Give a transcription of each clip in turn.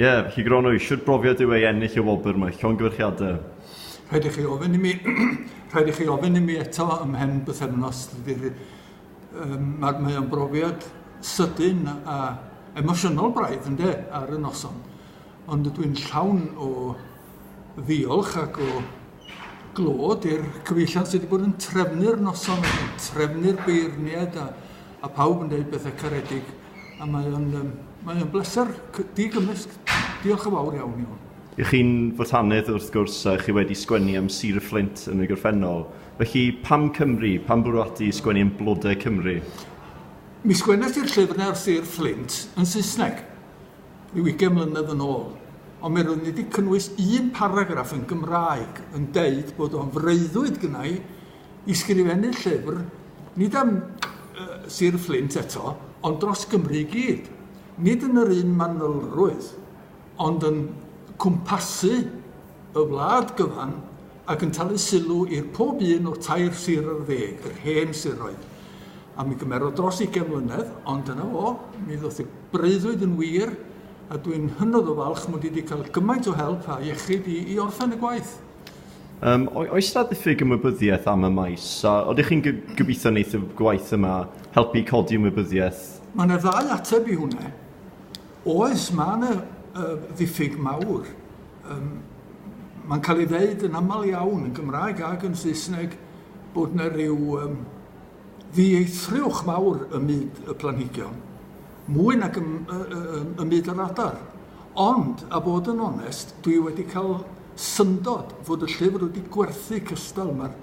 Ie, felly Gronwy, shwt brofiad yw ei ennill y wobr mae llongyfarchiadau? Rhaid i chi ofyn i mi, rhaid i chi ofyn i mi eto ym mhen bythefnos, dydy'r, um, mae, mae o'n brofiad sydyn a emosiynol braidd, ynddo, ar y noson. Ond ydw i'n llawn o ddiolch ac o glod i'r cyfeillion sydd wedi bod yn trefnu'r noson, yn trefnu'r beirniad a, a pawb yn dweud bethau caredig. a mae o'n, um, mae o'n bleser digymysg. Diolch yn fawr iawn i hwn. I chi'n fotanedd wrth gwrs a chi wedi sgwennu am Sir y Fflint yn y gorffennol. Felly pam Cymru? Pam bwrw ati i sgwennu am blodau Cymru? Mi sgwennes i'r llyfr ar Sir Fflint yn Saesneg rhyw ugain mlynedd yn ôl ond mi roeddwn i wedi cynnwys un paragraff yn Gymraeg yn deud bod o'n freuddwyd gynnau ysgrifennu llyfr, nid am Sir Fflint eto, ond dros Gymru i gyd. Nid yn yr un manylrwydd, ond yn cwmpasu y wlad gyfan ac yn talu sylw i'r pob un o'r tair sir ar ddeg, yr hen siroedd. A mi gymerodd dros ugain mlynedd, ond dyna fo, mi ddoth y breuddwyd yn wir, a dwi'n hynod o falch mod i wedi cael gymaint o help a iechyd i, i orffen y gwaith. Um, oes da ddiffyg ymwybyddiaeth am y maes? A oeddech chi'n gobeithio wneud y gwaith yma, helpu codi ymwybyddiaeth? Mae yna ddau ateb i hwnna. Oes, mae yna uh, ddiffyg mawr. Um, Mae'n cael ei ddeud yn aml iawn yn Gymraeg ac yn Saesneg bod yna rhyw um, ddieithrwch mawr ym myd y planhigion. mwy nag ym, ym, ym myd yr adar. Ond, a bod yn onest, dwi wedi cael syndod fod y llyfr wedi gwerthu cystal. Mae'r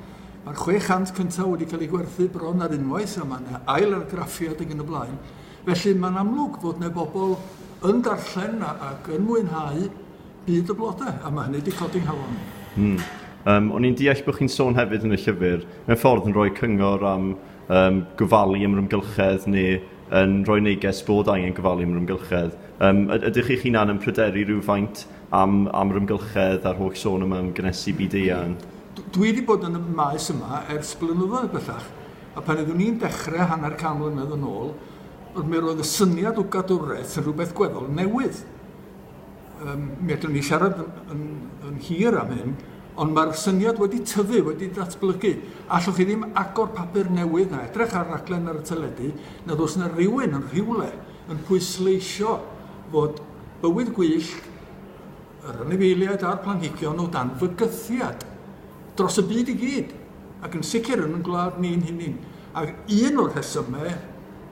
ma 600 cyntaf wedi cael ei gwerthu bron ar unwaith a mae yna ail argraffiad ag yn y blaen. Felly mae'n amlwg bod yna bobl yn darllen ac yn mwynhau byd y blodau, a mae hynny wedi codi nghalon. Hmm. Um, o'n i'n deall bod chi'n sôn hefyd yn y llyfr, mewn ffordd yn rhoi cyngor am um, gofalu am yr ymgylchedd neu yn rhoi neges fod angen gofalu am yr amgylchedd. Um, ydych chi'ch hunan yn pryderu rhywfaint am, am yr amgylchedd a'r holl sôn yma am gynesu byd eang? Dwi wedi bod yn y maes yma ers blynyddoedd bellach, a pan oeddwn i'n dechrau hanner can mlynedd yn ôl, mi roedd y syniad o gadwraeth yn rhywbeth gweddol newydd. Um, mi allwn ni siarad yn, yn hir am hyn, ond mae'r syniad wedi tyfu, wedi datblygu. Allwch chi ddim agor papur newydd na edrych ar raglen ar y teledu, nad oes yna rhywun yn rhywle yn pwysleisio fod bywyd gwyllt yr anifeiliaid a'r planhigion o dan fygythiad dros y byd i gyd, ac yn sicr yn yn gwlad ni'n hunin. Ac un o'r rhesymau